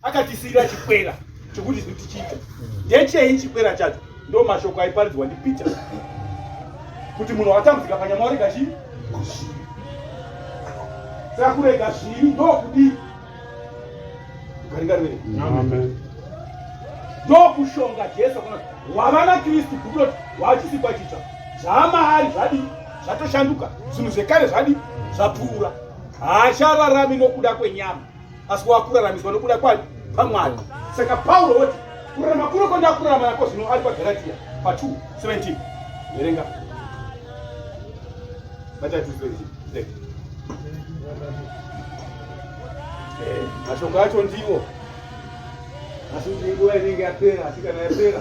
akatisiyira chikwera chokuti zvi tichiita ndechei chikwera chacho ndo mashoko aiparidzwa ndipeter kuti munhu watambudzika panyama warega chii saka kurega zvivi ndokudii ukaringarimene ndokushonga jesu kuna wavana kristu bhuku loti wachisikwa chitsva zvaamaari zvadii zvatoshanduka zvinhu zvekare zvadii zvapfuura haachararami nokuda kwenyama asi wakuraramiswa nokuda kwani pamwari saka pauro woti kurarama kuno kwandakurarama nako zvino ari pagaratiya pa 2 17 verenga eh, mashoko acho ndiwo asi kuti inguva inenge yapera asi kana yapera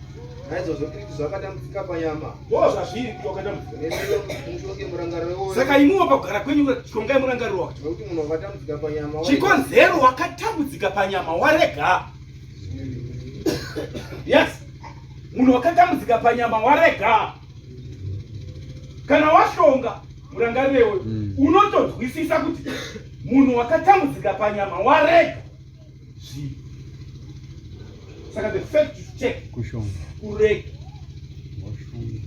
Naizvozvo tiri kuti zvakatambudzika panyama. Wo zvazviri kuti wakatambudzika. Mutonge murangariro woyo. Saka imiwo pakugara kwenyu tongai murangariro wacho. Nokuti munhu wakatambudzika panyama. Chikonzero wakatambudzika panyama warega. Yes. Munhu wakatambudzika panyama warega. Kana washonga murangariro iwoyo hmm. unotonzwisisa kuti munhu wakatambudzika panyama warega. Zii. Saka the fact you take kushonga kurega washonga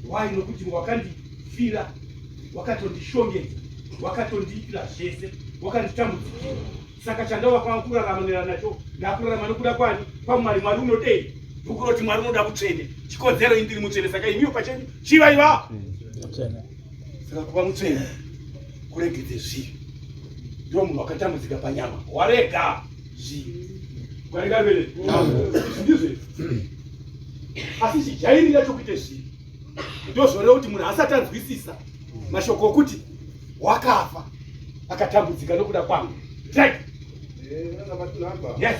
why nokuti wakandifira wakatondishongedza wakatondiitira zvese wakanditambudzikira saka chandava kwava kuraramanira nacho ndakurarama nokuda kwani kwamwari mwari unodei bhuku roti mwari unoda kutsvene chikodzero indiri mutsvene saka imiyo pachenyu chivaiva saka kuva mutsvene kuregedze zvivi ndiwo munhu wakatambudzika panyama warega zvivi warega vere ndizve asi chijairira chokuita zvivi ndozvoreva kuti munhu asati anzwisisa mashoko okuti wakafa akatambudzika nokuda kwangu right Yes.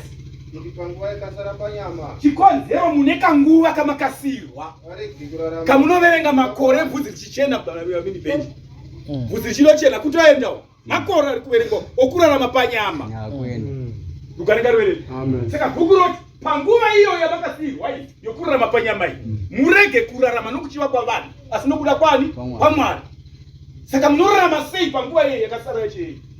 Chikonzero mune kanguva kamakasirwa kamunoverenga makore bvudzi richichena mini benji mm. bvudzi richinochena kuti aendawo makore ari kuverengwa okurarama panyama rukarenga mm. ruverei saka bhuku roti panguva iyo yamakasirwa iyi yokurarama panyama iyi mm. murege kurarama nokuchiva kwavanhu asi nokuda kwani kwamwari saka munorarama sei panguva iyo yakasara yachei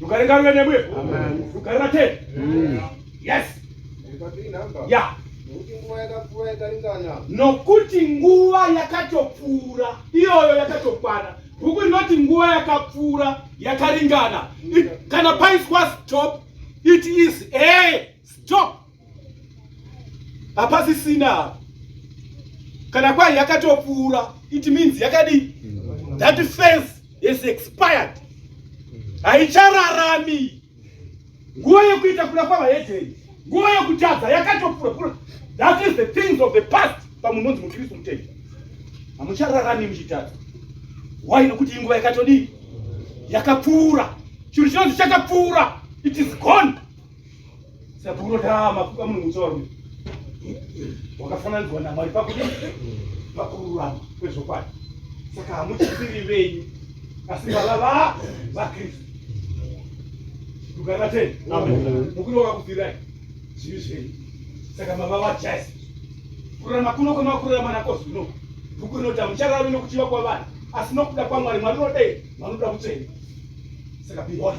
Rugare ngaruve nemwe. Rugare rate. Yes. Yeah. Nokuti nguva yakatopfuura iyoyo yakatokwana. Bhuku rinoti nguva yakapfuura yakaringana. Kana paiswa stop it is a stop. hapasisina apa kana kwai yakatopfuura it means yakadii that fence is expired haichararami nguva yekuita kuda kwavahedheni nguva yekutadza yakatopfuura that is the things of the past pamunhu onzi mukristu mutenda hamuchararami muchitadza why nokuti inguva yakatodii yakapfuura chinhu chinonzi chakapfuura it is gone Saka unotaa mafuka munhu mutsoro wakafananidzwa naMwari pakuti pakururama kwezvokwadi. Saka hamuchisiri venyu asi baba va vaKristu. Tukana tena. Amen. Mukuru wakakufirai zvivi zvenyu. Saka baba vaJesu. Kurama kuno kwemakurama nako zvino. Bhuku rinoti hamuchararami nokuchiva kwavanhu asi nokuda kwaMwari Mwari unodei vanoda kutsvene. Saka be holy.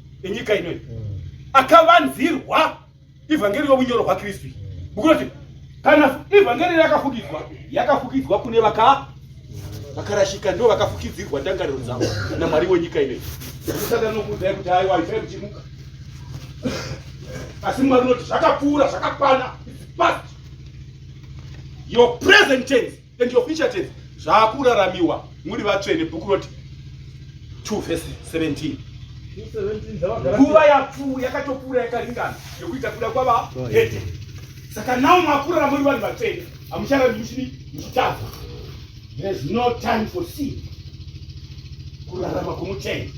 enyika inoyi akavanzirwa ivhangeri yobunyoro hwakristu buku roti kana ivhangeri yakafukidzwa yakafukidzwa kune vaka vakarashika ndo vakafukidzirwa ndangariro dzavo namwari wenyika inoyi usada nokuudzayi kuti aiwa ifai kuchimuka asi mwari unoti zvakapfuura zvakakwana your present tense and your future tense zvakuraramiwa muri vatsvene bhuku roti 2 vese 17 nguva yapfu yakatopfuura yakaringana yekuita kuda kwava hete saka nawo makurara muri vanhu vatsvene hamucharandi muchini muchitadza there's no time for sin kurarama kwomutsvene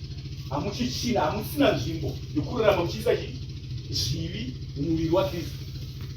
hamuchichina hamusina nzvimbo yokurarama muchiisa zvivi mumuviri wakristu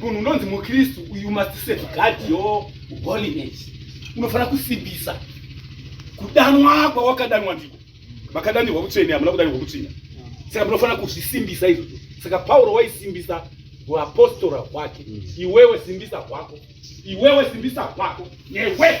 Munhu unonzi muKristu, you must safeguard your holiness. Unofanira kusimbisa kudanwa kwawakadanwa ndiko. Makadanirwa kutsvene, hamuna kudanirwa kutsvina. Saka munofanira kuzvisimbisa izvozvo. Saka Pauro waisimbisa huapostora hwake. Iwewe simbisa hwako, iwewe simbisa hwako, newe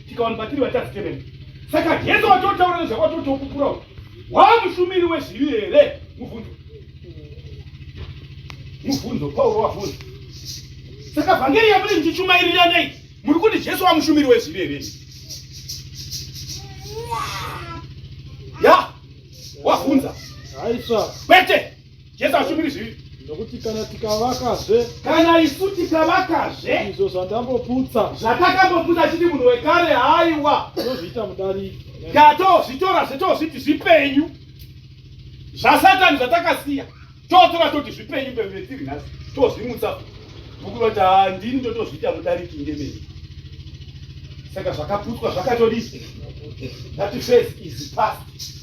tikawana patiri vatadzi temene saka jesu watotaura nezvakwatotokupura uku waa mushumiri wezvivi here mubvunzo mubvunzo pauro wabvunza saka vhangeri yamuri ndichichumairira nei muri kuti jesu wamushumiri wezvivi here ya wabvunza kwete Jesu hashumiri zvivi. Nokuti kana tikavakazve. Kana isu tikavakazve. Izvo zvandamboputsa. Zvatakamboputsa chiti munhu wekare haiwa. Tozviita mudariki. Ngatozvitora zvetozviti zvipenyu. Zvasatani zvatakasiya. Totora toti zvipenyu mbembere tiri nhasi. Tozvimutsa. Bhuku vati handini ndotozviita mudariki ngemene. Saka zvakaputswa zvakatodii. That phase is past.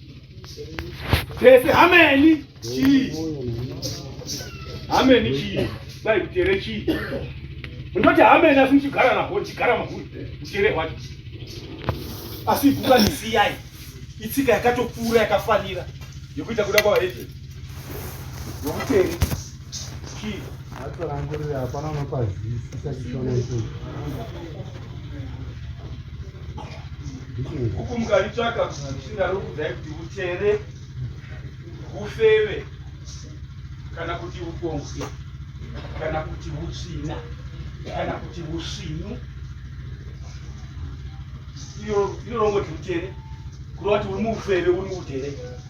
Pese hameni chii? Hameni chii? Dai kutere chii? Ndoti hameni asi muchigara naho chigara mahuri kutere hwacho. Asi ibuka nisiyai. Itsika yakatopfuura yakafanira yekuita kuda kwavaedzi. Nokutere. huku mukaritsvaka kusvira rokudzai kuti utere ufeve kana kuti ukonzi kana kuti utsvina kana kuti usvinu iyo rongo tiutere kurova kuti uri muufeve uri muutere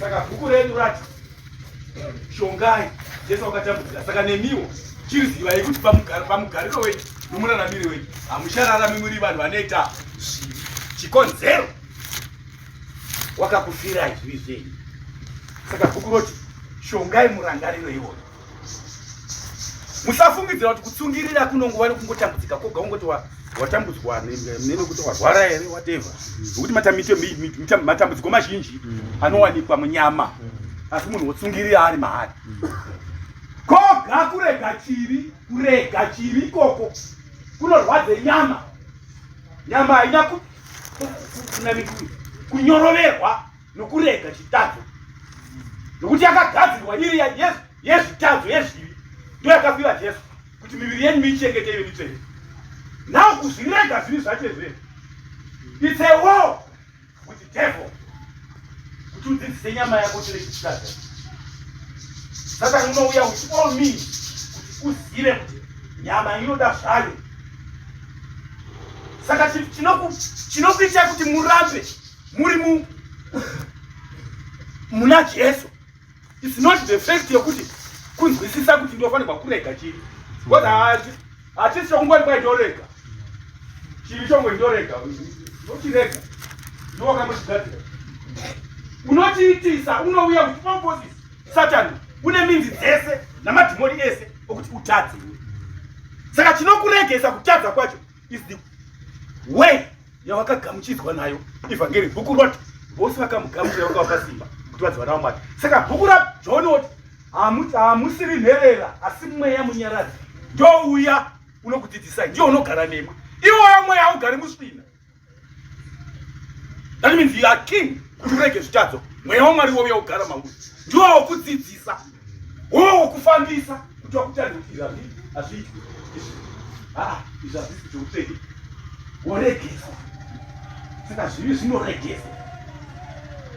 saka bhuku redu rati shongai jesu wakatambudzika saka nemiwo chirizivayi kuti pamugariro wenyu nomuraramiri wenyu hamuchararami muri vanhu vanoita zvivi chikonzero wakakufirai zvivi zvenyu saka bhuku roti shongai murangariro iwoyo musafungidzira kuti kutsungirira kunongova nekungotambudzika koga ungoti watambudzwa nekuti warwara here wateva nokuti matambudziko mazhinji mm. anowanikwa munyama mm. asi munhu wotsungirira ari maari mm. koga kurega chivi kurega chivi ikoko kunorwadza nyama nyama haina kunamikui kunyoroverwa nokurega chitadzo nokuti yakagadzirwa iri yezvitadzo yezvivi ndo yakapiwa jesu kuti miviri yenyu miichengete ive mitsvene now kuzvirega zvivi zvacho izvee its a war with the devil kuti udzidzise nyama yako chine chitadza saka unouya with all means kuti uzive kuti nyama inoda zvayo saka chinokuita kuti murambe muri mu muna jesu its not the fact yekuti kunzwisisa kuti ndofanirwa kurega chiri bcause haati hatisi chokungwari kwai ndorega chiri chongwe ndorega ndochirega ndowakambochigadzira unochiitisa unouya kuti pomposis satani une minzi dzese namadhimoni ese okuti utadze saka chinokuregesa kutadza kwacho is the way yawakagamuchidzwa nayo evhangeri bhuku roti vose vakamugamuchira vakavapa simba kuti vadziva navo mwari saka bhuku rajohn oti hamusiri nherera asi mweya munyaradzi ndouya unokudzidzisai ndiyo unogara nemwe iwoyo mweya haugari musvina That means you are king kuti urege zvitadzo mweya wamwari wouya kugara mauri ndiwo wokudzidzisa wowo wokufambisa kuti wakutadza kuti izvi hazviitwi haa izvi hazvisi kuti utsvege woregesa saka zvivi zvinoregesa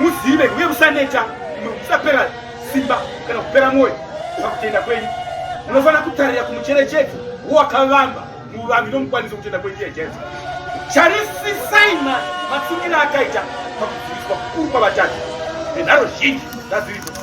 muzive uye musaneta musapera simba kana kupera mwoyo pakutenda kwenyu munofanira kutarira kumucherechedzo wowakavamba muvambi nomukwanisi wokutenda kwenyu iye jesu charisisai matsikiro akaita pakudziviswa kukuru kwavatatu nenharo zhinji dzaziripo